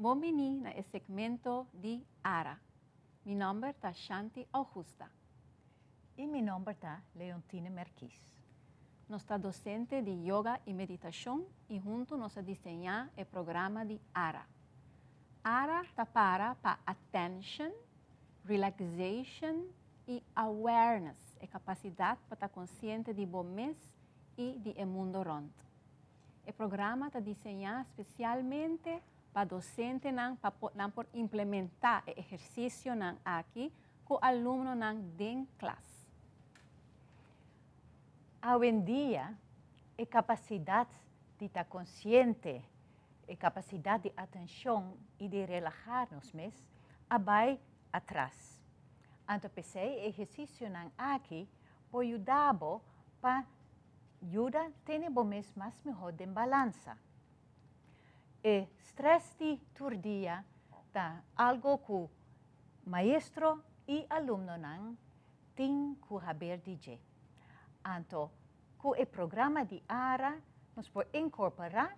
Bon bini na e segmento di Ara. Mi nomber ta Shanti Augusta. Y mi nomber ta Leontine Merkies. Nos ta docente di Yoga y Meditacion y hunto nos a diseña e programa di Ara. Ara ta para pa Attention, Relaxation y Awareness, e capacidad pa ta consciente di bo mes y di e mundo rond. E programa ta diseñá spesialmente pa dosentenan pa nan por implementá e ehersisionan aki ku alumnonan den klas. Awendia, e kapasidat di ta konsiente, e kapasidat di atenshon i di relahá nos mes a bai atras. Anto p'esei e ehersisionan aki por yuda bo pa Yuda tene bo mes mas mihó den balansa. E strès di tur dia ta algo ku maestro i alumnonan tin ku haber di dje. Anto ku e programa di ara nos por inkorporá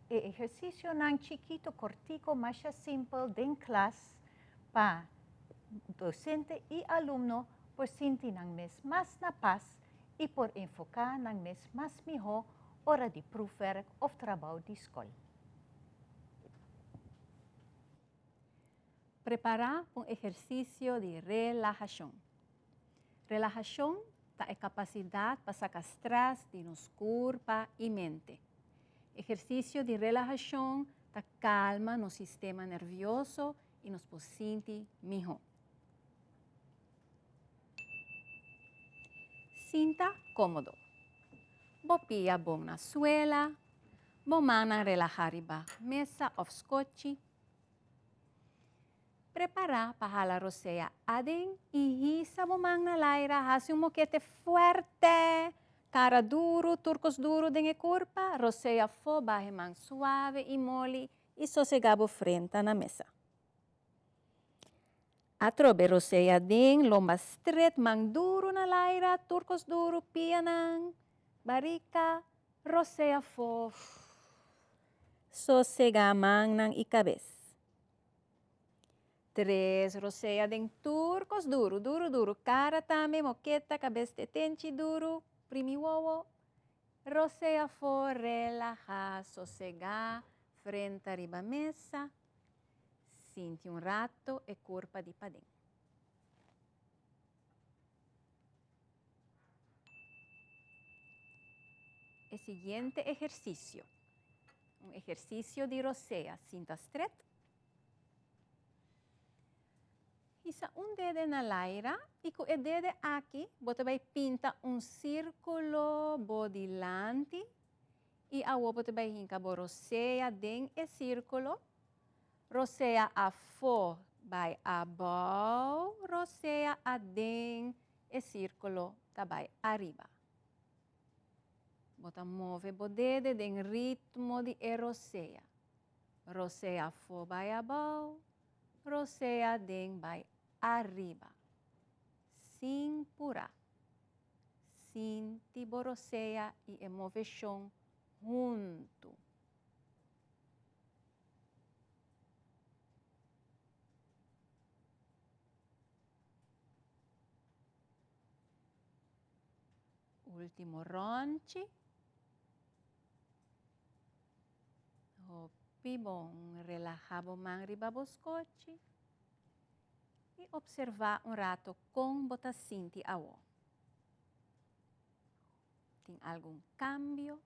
e ehersisionan chikitu kòrtiku masha simpel den klas pa dosente i alumno por sinti nan mes mas na pas i por enfoká nan mes mas mihó ora di prùfwèrk òf trabou di skol. Prepará pa un ehersisio di relahashon. Relahashon ta e kapasidat pa saka strès di nos kurpa i mente. Ehersisio di relahashon ta kalma nos sistema nervioso i nos por sinti mihó. Sinta komodo. Bo pia bon na suela, bo mannan relahá riba mesa òf skochi. Prepará pa hala rosea aden i hisa bo man na laira. Hasi un mokete fuerte, kara duru, turkos duru den e kurpa. Rosea afó, baha e man suave i moli i sosegá bo frenta na mesa. Atrobe rosea den lomba stret man duru na laira turcos duru pia nan barica rosea fo sosega man nan y cabes tres rosea den turcos duru duru duru cara tambe moketa cabes tetenchi duru primi wowo rosea fo relaha sosega frenta riba mesa. Sinti un rato e kurpa di paden. E siguiente ehersisio, un ehersisio di rosea, sinta stret. Hisa un dede na laira i ku e dede aki bo ta bai pinta un sirkulo bo dilanti. I awor bo ta bai hinka bo rosea den e sirkulo, rosea afó bai abou, rosea aden e sirkulo ta bai ariba. Bo ta move bo dede den ritmo di e rosea, rosea afó bai abou, rosea aden bai ariba. Sin pura, sin tiborosea i e moveshon huntu. Ultimo ronchi. Hopi bon, relaha bo man riba bo skochi. I opservá un rato kon bo ta sinti awo. Tin algun kambio?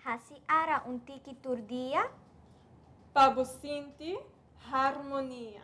Hasi ara un tiki tur dia. Pa bo sinti harmonia.